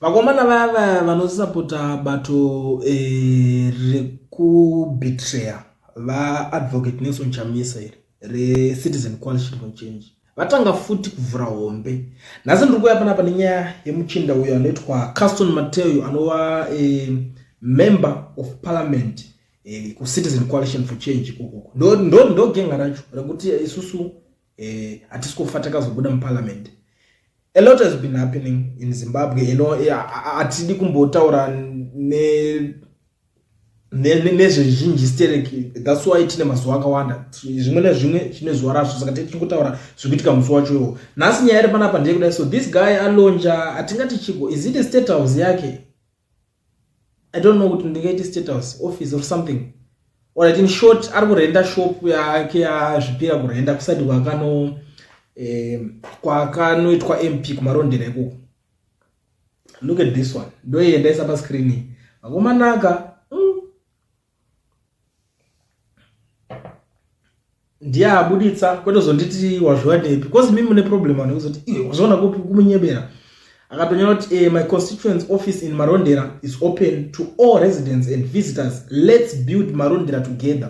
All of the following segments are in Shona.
Vakomana vaya vaya vanosapota bato eh, rekubetrayer vaadvocate Nelson Chamisa iri reCitizen Coalition for Change vatanga futi kuvhura hombe. Nhasi ndiri kuuya panapa nenyaya yemuchinda uyo anoitwa Caston Mateo anova eh, member of parliament eh, kuCitizen Coalition for Change ikoko. Ndo, ndo, ndo genga racho rekuti isusu eh hatisi kufa takazobuda muparliament a lot has been happening in zimbabwe you know eh, hatidi kumbotaura ne nezvezhinji stereki thats why tine mazuva akawanda zvimwe nezvimwe tine zuva razvo saka tichingotaura zvikuitika musi wacho iwo nhasi nyaya iri panapa ndeyekudai so this guy alonja atingati chiko is it a state house yake i don't know kuti ndingaiti state house office or something or it in short ari kurenda shop yake azvipira kurenda kusati kwakano eh, kwakanoitwa mp kumarondera ikoko look at this one ndoiendaisa pascreen vakomanaka ndiye abuditsa kwete kuzonditi wazviwanepi because mimi mune problem vanhu kuzoti iwe eh, wazviona kupi kumunyebera akatonyora kuti eh, my constituents office in marondera is open to all residents and visitors let's build marondera together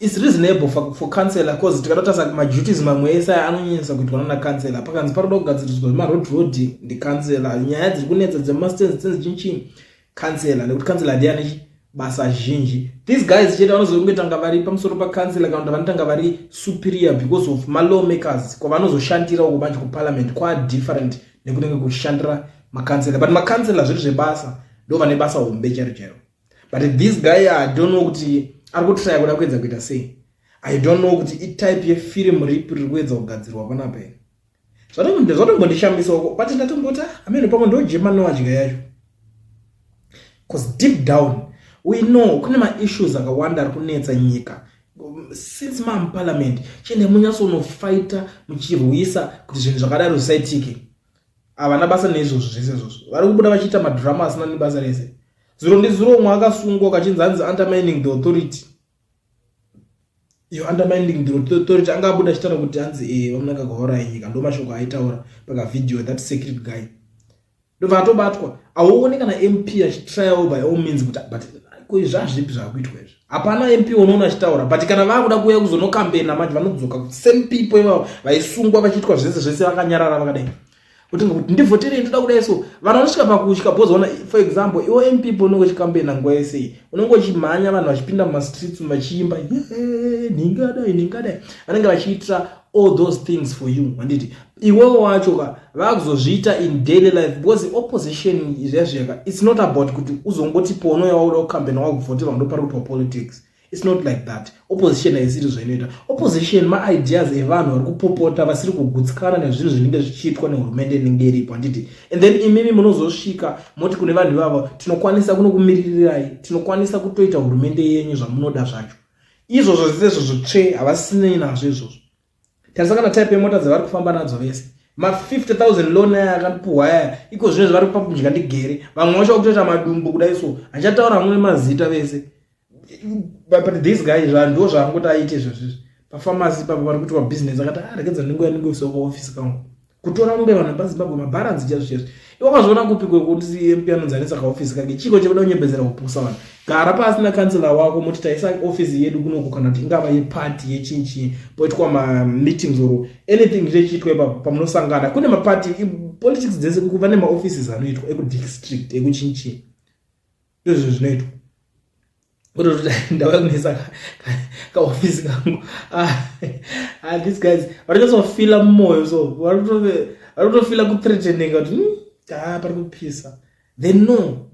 It's reasonable for, for councillor because tikatotarisa maduties mamwe ese aya anonyanyisa kuitwa nana councillor pakanzi paroda kugadziriswa zvemaroad road ndicouncillor nyaya dziri kunetsa dzemastands dzenzi chinchini councillor nekuti councillor ndiye ane basa zhinji these guys chete vanozokungetanga vari pamusoro pacancellor kana kuti vanotanga vari superior because of malaw makers kwavanozoshandira uko manje kuparliament kwa different nekunenge kuchishandira macancellor but macancellor zviri zvebasa ndo vane basa hombe chero chero but this guy i don't know kuti ari kutraya kuda kuedza kuita sei i don't know kuti itype yefirimu ripi riri kuedza kugadzirwa panapa iri zvatombondishambisaoko but ndatomboti amene pamwe ndojemanowa dya yacho bcause deep down we know kune maissues akawanda ari kunetsa nyika since mamuparliament chiende munyatsonofaita muchirwisa kuti zvinhu zvakadaro zvisaitike havana basa neizvozvo zvese izvozvo vari kubuda vachiita madhirama asina nebasa rese zuro ndizuro umwe akasungwa kachinzi hanzi undermining the authority iyo undermining the authority anga abuda achitaura kuti hanzi e eh, vamunaka gahora yenyika ndo mashoko aitaura pakavideo that secret guy ndobva atobatwa auone kana mp achitrial by all means kuti but ko izvazvipi zvakuitwa izvi hapana mp unoona achitaura but kana vakuda kuuya kuzonokambena manje vanodzoka kuti same people ivavo vaisungwa vachiitwa zvese zvese vakanyarara vakadai kuti kuti ndivhoterei ndoda kudai so vanhu vanosvika pakutya bhozi ona for example iwo mp people unenge uchikambena nguva yese iyi unenge uchimhanya vanhu vachipinda mumastreets vachiimba nhingadai nhingadai vanenge vachiitira all those things for you handiti iwewo wacho ka vakuzozviita in daily life because opposition izviyazviyaka its not about kuti uzongoti pono yawauda kucambena wakuvhoterwa ndopari kutiwa politics its not like that opposition haisiri zvainoita opposition maideas evanhu vari kupopota vasiri kugutsikana nezvinhu zvinenge zvichiitwa nehurumende inenge iripo handiti and then imimi munozosvika moti kune vanhu ivavo tinokwanisa kunokumiririrai tinokwanisa kutoita hurumende yenyu zvamunoda zvacho izvozvo zvisezvo zvotsve havasisinei nazvo izvozvo tarisa kana type yemota dzavari kufamba nadzo vese ma 50000 loan aya akapuhwa aya iko zvino zvavari kupa kudya ndigere vamwe vacho vakutoita madumbu kudai so achataura hamwe mazita vese but this guy zvanhu ndo zvaangoti aite izvozvizvi pafamasi papa vari kuitwa business akati aregedza ah, ndingoya ndingoisawo paofisi kangu kutora mombe vanhu vepazimbabwe mabharanzi chazvo chazvo iwakazviona kupi kwekuti mp anonzanisa kaofisi kake chiko chekuda kunyembedzera kupusa vanhu gara pasi nakansela wako moti taisa ofisi yedu kunoku kana kuti ingava yepati yechinchi poitwa mameetings or anything zvechiitwa ipapo pamunosangana kune mapati politics dzese kuva nemaoffices anoitwa ekudistrict ekuchinchi ndozvinhu zvinoitwa kutoti ndauya kunetsa kaofisi kangu ah, ah, these guys vanototsofila mumoyo so vanotofila kuthreateninga kuti hmm, taa pari kupisa they know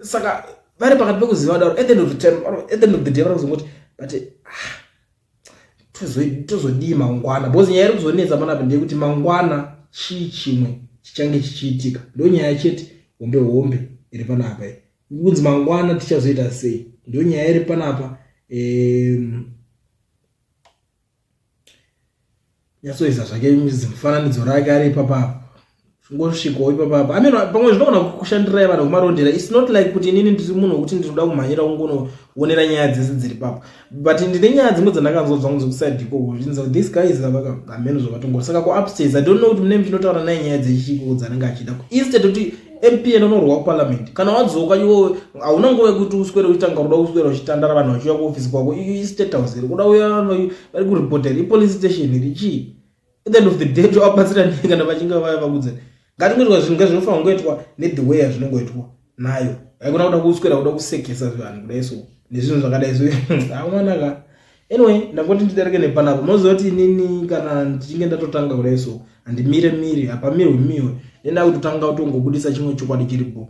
saka vari pakati pekuziva daro at the end of the time at the end of the day vari kuzongoti but ah, tozodii mangwana because nyaya iri kuzonetsa manape ndeyekuti mangwana chii chimwe chichange chichiitika ndo nyaya chete hombe hombe iri panapa kunzi mangwana tichazoita sei ndo nyaya iri panapa um, nyatsoisa zvake zimufananidzo rake ari ipapapo ngosvikawo ipapapo i mean pamwe zvinogona kushandirai vanhu kumarondera its not like kuti inini ndiri munhu wekuti ndinoda kumhanyira kungonoonera nyaya dzese dziri papo but ndine nyaya dzimwe dzandakanzwa dzangu dzekuside ikoko zvinzi this guy is ameno zvavatongo saka kuupstairs i don't know kuti mune muchinotaura naye nyaya dzechikiko dzanenge achida instead kuti mp anonorwa kuparliament kana wadzoka iwo hauna nguva yekuti uswere uchitanga kuda kuswera uchitandara vanhu vachiuya kuofisi kwako i state house iri kuda uya vari kuripota here ipolice station here chii at the end of the day tovabatsira nei kana vachinge vaya vakudza ngatingoitwa zvinhu nga zvinofanira kungoitwa nethe way azvinongoitwa nayo haikona kuda kuswera kuda kusekesa zvivanhu kudai so nezvinhu zvakadai zvo awanaka anyway ndangoti ndidarike nepanapo moziva kuti inini kana ndichinge ndatotanga kudai so handimire miri hapamirwe miwe nendakuti tanga utongobudisa chimwe chokwadi chiripo